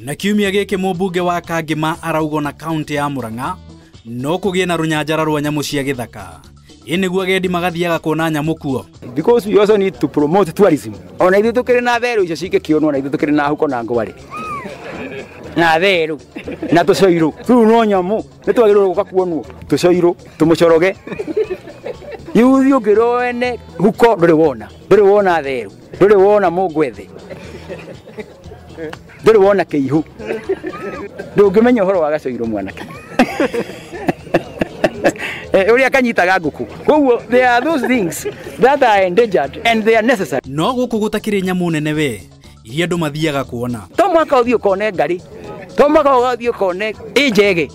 Na kiumia gĩkĩ mũmbunge wa Kangĩma araugwo na kaunti ya Murang'a no kũgĩe na rũnyanjara rwa nyamũ cia gĩthaka. Ĩ nĩguo agendi magathiaga kuona nyamũ kuo. because we also need to promote tourism ona ithuĩ tũkĩrĩ na therũ icio cingĩkĩonwo na ithuĩ tũkĩrĩ na huko na ngwarĩ na therũ na tũcoirũ rĩu no nyamũ nĩ twagĩrĩirwo gũka kuonwo tũcoirũ tũmũcoroge yuthi ũngĩrwo wene huko ndũrĩ wona ndũrĩ wona therũ ndũrĩ wona mũngwethe ndũrĩ wona kĩihu ndũngĩmenya ũhoro wa gacoirwo mwanake Eh, ũrĩa kanyitaga ngũkũ koguo there are those things that are endangered and they are necessary no gũkũ gũtakĩrĩ nyamũ nene we iria andũ mathiaga kuona to mwaka ũthiĩ ũkone ngarĩ to mwaka ũgathiĩ ũkone ĩ njege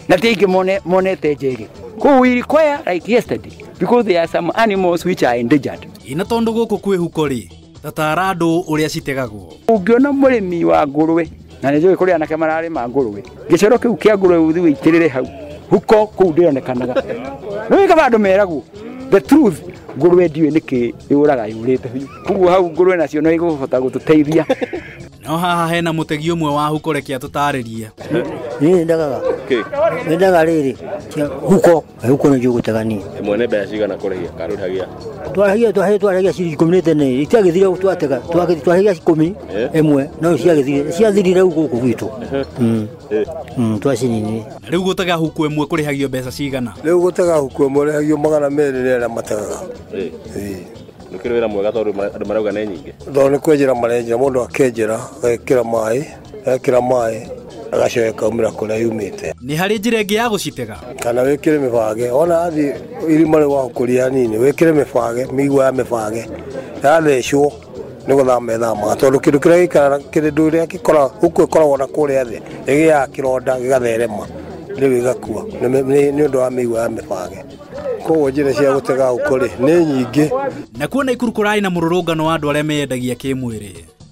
na ti aingĩ mone- monete njege koguo we require like yesterday because there are some animals which are endangered ĩna tondũ gũkũ kwĩhuko rĩ Tataara andũ ũrĩa citegagwo. Ũngĩona mũrĩmi wa ngũrũwe na nĩ njũĩ kũrĩ anake mararĩma ngũrũwe, gĩcoro kĩu kĩa ngũrũwe ũthi wĩitĩrĩre hau huko kũu ndĩronekanaga. Nĩ wĩ kaba andũ meragwo the truth ngũrũwe ndiũĩ nĩkĩ yũraga yũrĩte biũ. Koguo hau ngũrũwe nacio no igũhota gũtũteithia. No haha hena mũtegi ũmwe wa huko reke atũtarĩrie. Niĩ nyendaga nyendaga rĩrĩ cia huko Rĩu kũna njũgũ tegani. Ĩmwe nĩ mbeca cigana kũrĩhia karũhagia? Twaragia twahĩ twaragia ciringi ikũmi nĩ tene rĩ ciagĩthire ũguo twatega twagĩthi twaragia ikũmi Eh. ĩmwe no ciagĩthire ciathirire rĩu gũkũ gwitũ Mm, Eh. mm, twacinini Rĩu gũtega huku ĩmwe kũrĩhagio mbeca cigana? Rĩu gũtega huku ĩmwe rĩhagio magana merĩ nĩ arĩa mategaga. Eh. Ĩĩ. Nĩkĩrĩ wĩra mwega tondũ ma- andũ marauga nĩ nyingĩ. Tondũ nĩ kwenjera marenjera mũndũ akenjera agekĩra maĩ ekira maĩ agacoka ĩkaumĩra kũrĩa yumĩte nĩ harĩ njĩra ĩngĩ ya gũcitega kana wĩkĩre mĩbange ona athiĩ irima rĩu wahũkũria hanini wĩkĩre mĩbange mĩigua ya mĩbange yathecwo nĩ gũthama ĩthamaga tondũ kĩndũ kĩrĩa gĩikaraga kĩndũ kĩrĩa gĩkoragwo huku ĩkoragwo na kũrĩa thĩ ĩgĩaga kĩronda gĩgatherema rĩu ĩgakua nĩ mĩ- nĩ nĩ ũndũ wa mĩigua ya mĩbange koguo njĩra cia gũtega huko rĩ nĩ nyingĩ na kuona ikuru kũrarĩ na mũrũrũngano wa andũ arĩa meyendagia kĩmwĩrĩ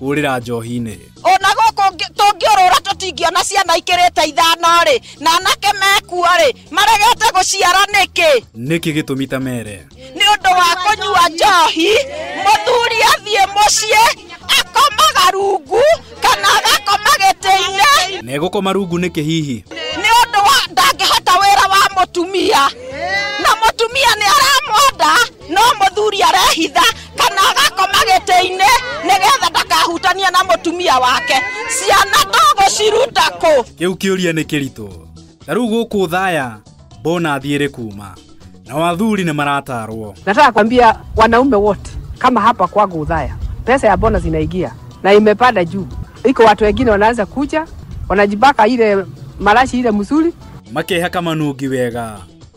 kũrĩra njohi-inĩ ona gũkũ ngĩ- tũngĩũrũra tũtingĩona ciana ikĩrĩte ithano rĩ na anake mekua rĩ maregete gũciara nĩkĩ nĩkĩ gĩtũmi ta mere nĩ ũndũ wa kũnyua njohi mũthuri athiĩ mũciĩ akomaga rungu kana agakoma gĩtĩ-inĩ na egũkoma rungu nĩkĩ hihi nĩ ũndũ wa ndangĩhota wĩra wa mũtumia na mũtumia nĩ aramwenda no mũthuri arehitha kana agakoma gĩtĩ-inĩ nĩgetha ndakahutania na mũtumia wake ciana tũgũciruta kũ kĩu kĩũria nĩ kĩritũ ta rĩu gũkũ thaya mbona thiĩrĩ kuma nao athuri nĩ maratarwo Nataka kwambia wanaume wote kama hapa kwangu Udhaya, pesa ya bonus inaingia na imepanda juu. Iko watu wengine wanaanza kuja wanajibaka ile marashi ile mzuri, makehaka manungi wega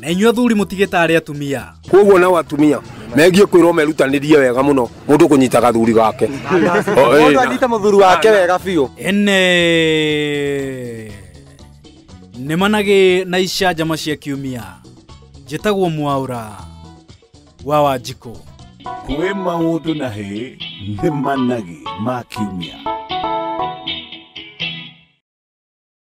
na inyuĩ athuri mũtigĩtaare atumia koguo nao atumia megiĩ kwĩrwo merutanĩrie wega mũno mũndũ kũnyita gathuri gake O, ĩĩ, mũndũ na- anyite mũthuri wake wega biũ ene nĩ managĩ na icanjama cia kiumia njĩtagwo mwaũra wa wanjikũ kwĩ maũndũ na hĩ nĩ managĩ ma kiumia